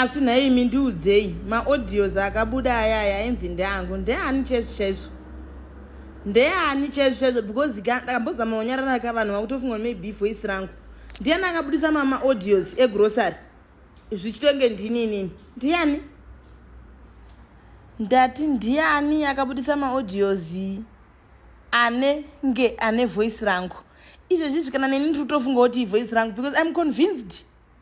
asi nhaimi ndiudzei maaudios akabuda aya aya ainzi ndeangu ndeani chaizvo chaizvo ndeani chaizvo chaizvo because ndakambozama kunyarara ka vanhu vakutofunga maybe voice rangu ndiani akabudisa mamaaudios egrocery zvichitonge ndini inini ndiani ndati ndiani akabudisa maaudios anenge ane voice rangu izvezvi zvikana neni ndiri kutofunga kuti ivoice rangu because im convinced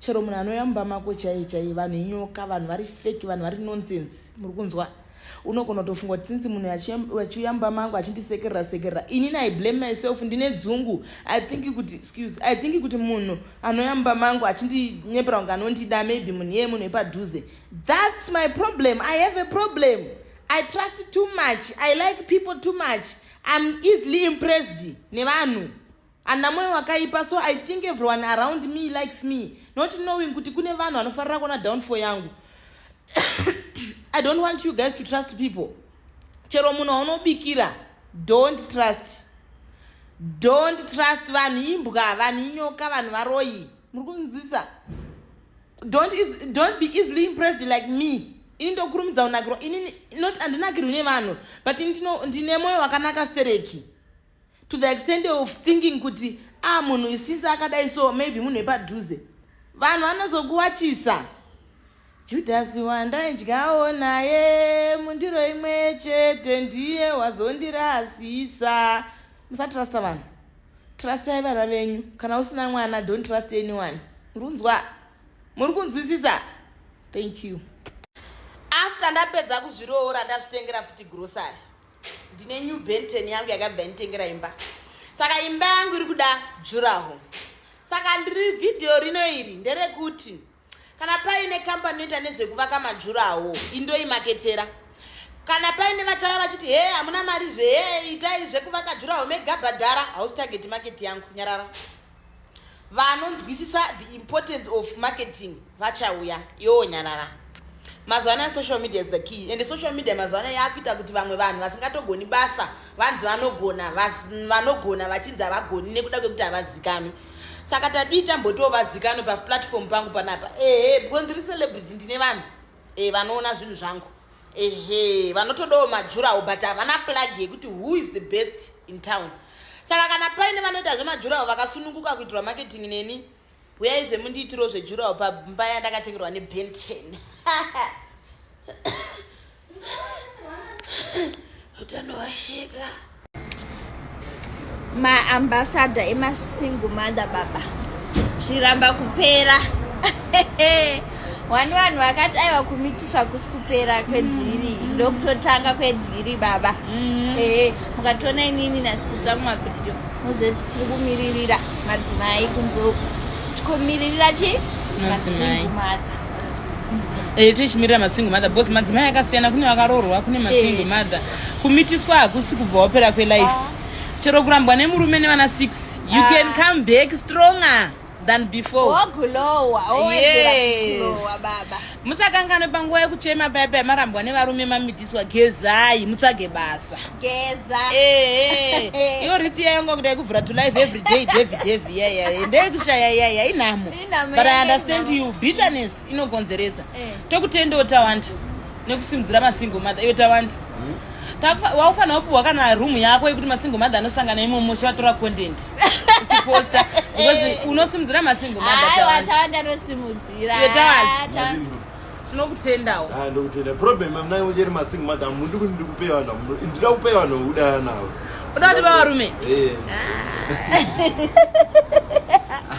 chero munhu anouya mumba mako chaiye chaiye vanhu inyoka vanhu vari feki vanhu vari nonsense muri kunzwa unogona kutofunga kuti since munhu achiuya mumba mangu achindisekerera sekerera inini i blame myself ndine dzungu i think kuti excuse i think kuti munhu anouya mumba mangu achindinyepera kunge anondida maybe munhu iyeye munhu wepadhuze thats my problem i have a problem i trust too much i like people too much im easily impressed nevanhu ana moyo wakaipa so i think everyone around me likes me not knowing kuti kune vanhu vanofarira kuona downfall yangu i don't want you guys to trust people chero munhu waunobikira don't trust don't trust vanhu imbwa vanhu inyoka vanhu varoyi muri kunzwisa don't, don't be easily impressed like me ini ndokurumidza kunakirwa ini not andinakirwi nevanhu but ini ndine moyo wakanaka stereki to the extent of thinking kuti a ah, munhu isinse akadai so maybe munhu epadhuze vanhu vanozokuwachisa judhasi wandaidyawo naye mundiro imwe chete ndiye wazondirasisa musatrasta vanhu trastai vana venyu kana usina mwana don't trust anyone murunzwa muri kunzwisisa thank you after ndapedza kuzviroora ndazvitengera futi grocery ndine new benten yangu yakabva yanitengera imba saka imba yangu iri kuda juraho saka ndiri vhidhiyo rino iri nderekuti kana paine kambani inoita nezvekuvaka majuraho indoimaketera kana paine vachava vachiti he hamuna mari zve he itai zvekuvaka juraho megabhadhara hausi tageti maketi yangu nyarara vanonzwisisa the importance of marketing vachauya yoo nyarara mazuva anaya social media is the key and social media mazuva anaya yaakuita kuti vamwe vanhu vasingatogoni basa vanzi vanogona vanogona vachinzi havagoni nekuda kwekuti havazikanwi saka tadii tambotiwo vazikanwe paplatform pangu panapa ehe because ndiri celebrity ndine vanhu e, vanoona zvinhu zvangu ehe vanotodawo majurawo but havana plug yekuti who is the best in town saka kana paine vanoita zvemajurawo vakasununguka kuitirwa marketing neni huyai zvemundiitiro zvejurawo pamba yandakatengerwa nebenten utano washeka maambasada emasingle mother baba zviramba kupera wani vanhu vakati aiva kumitiswa kusi kupera kwedhiri mm. ndokutotanga kwedhiri baba mm. ee mukatoona inini nasisa mumabhirijo muzoti tiri kumiririra madzimai kunzoku tikomiririra chi masingle mother Eh, tichimirira masingle mother because madzimai akasiyana kune vakaroorwa kune masingle eh. mother kumitiswa hakusi kubva wapera kwelife ah. chero kurambwa nemurume nevana six you ah. can come back stronger than before musakanganwe panguva yekuchema paya paya marambwa nevarume mamitiswa gezai mutsvage basa eh, iyo ritsi yayonga kuda yekuvhura to life every day david heavy yaya ndeyekushaya yaya inhamo but i understand you bitterness inogonzeresa eh. tokutendewo tawanda nekusimudzira masingle mother iyo tawanda hmm? waufanira kupiwa kana room yako yekuti masingle mother anosangana imomo chivatora content uchiposta because eh. unosimudzira masingle mothertawanda anosimudzira tinokutendawo ah, ndokutenda problem amnai ucheri masingle mother mundi kuti ndikupe vanhu ndida kupe vanhu vekudana navo uda kuti vavarume eh. ah.